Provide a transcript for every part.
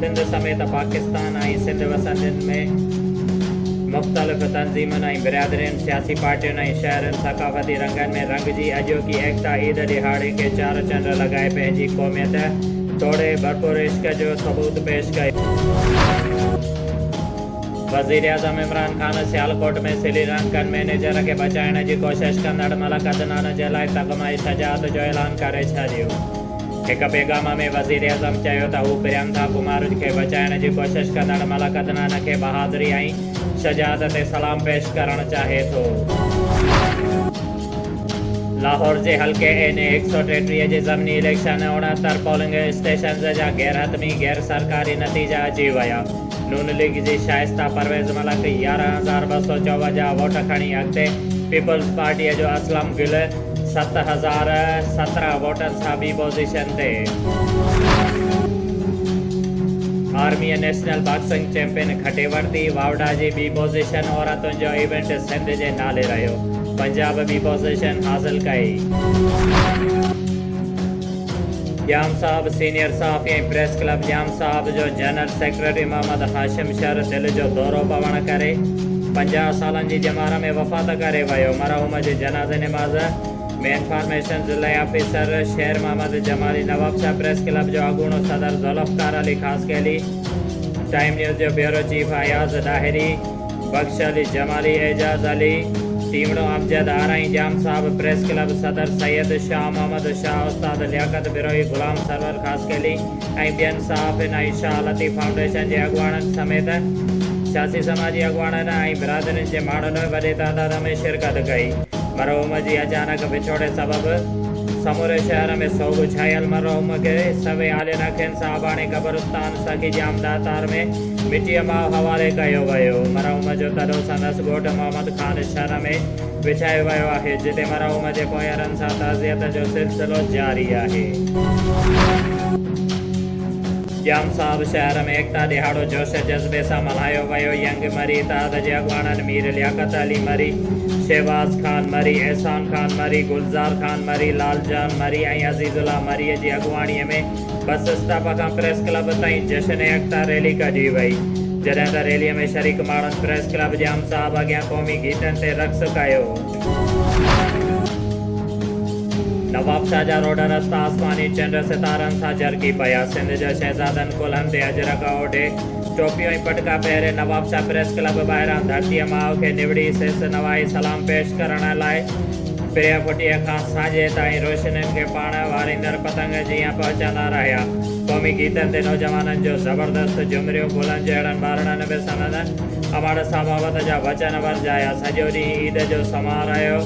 سنڌ سميت پاڪستان ۽ سنڌ وسندين ۾ مختلف تنظيمن ۽ برادرين، سياسي پارٽين ۽ شهرين ثقافتي رنگن ۾ رنگجي اڄوڪي ايڪتا عيد ڏهاڙي کي چار چنڊ لڳائي پنهنجي قوميت توڙي ڀرپور عشق جو ثبوت پيش ڪيو. وزيراعظم عمران خان سيالڪوٽ ۾ سري لنڪن مئنيجر کي بچائڻ جي ڪوشش ڪندڙ ملڪ عدنان جي لاء تغمه شجاعت جو اعلان ڪري ڇڏيو. هڪ پيغام ۾ وزيراعظم چيو ته هو پريانڪا ڪمارج کي بچائڻ جي ڪوشش ڪندڙ ملڪ عدنان کي بهادري ۽ شجاعت تي سلام پيش ڪرڻ چاهي ٿو. لاهور جي حلقي اين اي هڪ سؤ ٽيٽيهه جي ضمني اليڪشن اڻهتر پولنگ اسٽيشنز جا غيرحتمي غير سرڪاري نتيجا اچي ويا، نون ليگ جي شائسته پرويز ملڪ يارهن هزار ٻه سؤ چوونجاهه ووٽ کڻي اڳتي، پيپلز پارٽيء جو اسلم گل، ست هزار سترهن ووٽن سان ٻي پوزيشن تي آرمي نيشنل باڪسنگ چيمپين کٽي ورتي واوڊا جي ٻي پوزيشن عورتن جو ايونٽ سنڌ جي نالي رهيو پنجاب ٻي پوزيشن حاصل ڪئي. ڄام صاحب سينيئر صحافي ۽ پريس ڪلب ڄام صاحب جو جنرل سيڪريٽري محمد هاشم شر دل جو دورو پوڻ ڪري پنجاهه سالن جي ڄمار ۾ وفات ڪري ويو مرحوم جي جنازي نماز مينفارميشن ضلعي officer Sher Muhammad Jamali Nawabshah press club جو اڳوڻو صدر ذوالفقار علي خاصخيلي ٽائيم نيوز جو بيورو چيف اياز ڏاهري بخش علي جمالي اعجاز علي ٽيمڙو امجد آرائين ڄام صاحب پريس ڪلب صدر سيد شاهه محمد شاهه استاد لياقت بروهي غلام سرور خاصخيلي ۽ ٻين صحافين ۽ شاهه لطيف فائونڊيشن جي اڳواڻن سميت سياسي سماجي اڳواڻن ۽ برادرين جي ماڻهن وڏي تعداد ۾ شرڪت ڪئي مرحوم جي اچانڪ وڇوڙي سبب سموري شهر ۾ سوڳ ڇايل مرحوم کي سوي عالين اکين سان اباڻي قبرستان سخي ڄام ڏاتار ۾ مٽيء ماء حوالي ڪيو ويو. مرحوم جو تڏو سندس ڳوٺ محمد خان شھر ۾ وڇايو ويو آھي، جتي مرحوم جي پونئيرن سان تعزيت جو سلسلو جاري آھي. ڄام صاحب شھر ۾ ايڪتا ڏھاڙو جوش جذبي سان ملھايو ويو. ينگ مري اتحاد جي اڳواڻن مير لياقت علي مري، شھباز خان مري، احسان خان مري، گلزار خان مري، لال جان مري ۽ عزيز الله مريء جي اڳواڻيء ۾ بس اسٽاپ کان پريس ڪلب تائين جشن ايڪتا ريلي ڪڍي وئي، جڏهن ته ريلي ۾ شريڪ ماڻهن پريس ڪلب جي ام صاحب اڳيان قومي گيتن تي رقص ڪيو. نوابشاهه جا روڊ رستا آسماني چنڊ ستارن سان جرڪي پيا، سنڌ جا شهزادن ڪلهن تي اجرڪ اوڍي، ٽوپيون ۽ پٽڪا پهري نوابشاهه پريس ڪلب ٻاهران ڌرتيء ماء کي نوڙي سيس نوائي سلام پيش ڪرڻ لاء پرينء ڦٽيء کان سانجهيء تائين روشنين کي پاڻ واريندڙ سنگ جي ائين پهچا نه رهيا. قومي گيتن تي نوجوانن جو زبردست جهمريون گلن جهڙن ٻارڙن به سندن اماڙ سان محبت جا وچن ورجايا. سڄو ڏينهن عيد جو سماء رهيو.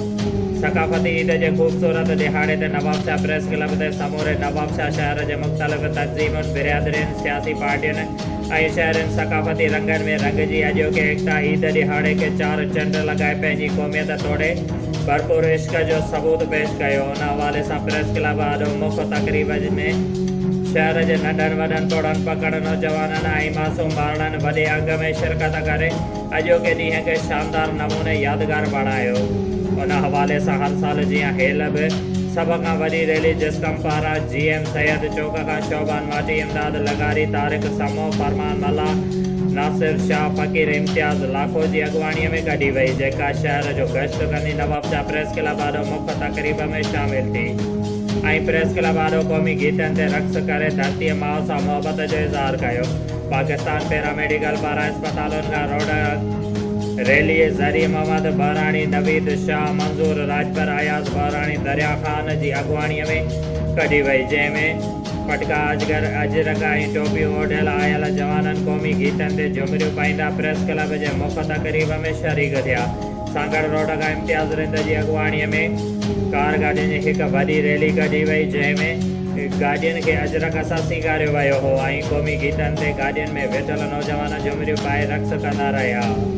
ثقافتي عيد جي خوبصورت ڏهاڙي تي نوابشاهه پريس ڪلب تي سموري نوابشاهه شهر جي مختلف تنظيمن، برادرين، سياسي پارٽين، ۽ شهرين ثقافتي رنگن ۾ رنگجي اڄوڪي ايڪتا عيد ڏهاڙي کي چار چنڊ لڳائي پنهنجي قوميت توڙي ڀرپور عشق جو ثبوت پيش ڪيو ان حوالي سان پريس ڪلب آڏو مک تقريب ۾ شهر جي ننڍن وڏن پوڙهن پڪڙ نوجوانن ۽ معصوم ٻارڙن وڏي انگ ۾ شرڪت ڪري اڄوڪي ڏينهن کي شاندار نموني يادگار بڻايو ان حوالي سان هر سال جيان هيل به سڀ کان وڏي ريلي جسقم پاران جي ايم سيد چوڪ کان شعبان ماٽي امداد لغاري طارق سمون فرمان ملاح ناصر شاهه فقير امتياز لاکو جي اڳواڻي ۾ ڪڍي وئي جيڪا شهر جو گشت ڪندي نوابشاهه پريس ڪلب آڏو مک تقريب ۾ شامل ٿي ۽ پريس ڪلب آڏو قومي گيتن تي رقص ڪري ڌرتي ماء سان محبت جو اظهار ڪيو. پاڪستان پيراميڊيڪل پاران اسپتالن کان روڊ ريليء ذريعي محمد بحراڻي، نويد شاهه، منظور راڄپر، اياز بحراڻي، دريا خان جي اڳواڻيء ۾ ڪڍي وئي، جنهن ۾ پٽڪا اجگر، اجرڪ ۽ ٽوپيون اوڍيل آيل جوانن قومي گيتن تي جهمريون پائيندا پريس ڪلب جي مک تقريب ۾ شريڪ ٿيا. سانگهڙ روڊ کان امتياز رند جي اڳواڻيء ۾ ڪار گاڏين جي هڪ وڏي ريلي ڪڍي وئي جنهن ۾ گاڏين کي اجرڪ سان سينگاريو ويو هو ۽ قومي گيتن تي گاڏين ۾ ويٺل نوجوان جهمريون پائي رقص ڪندا رهيا.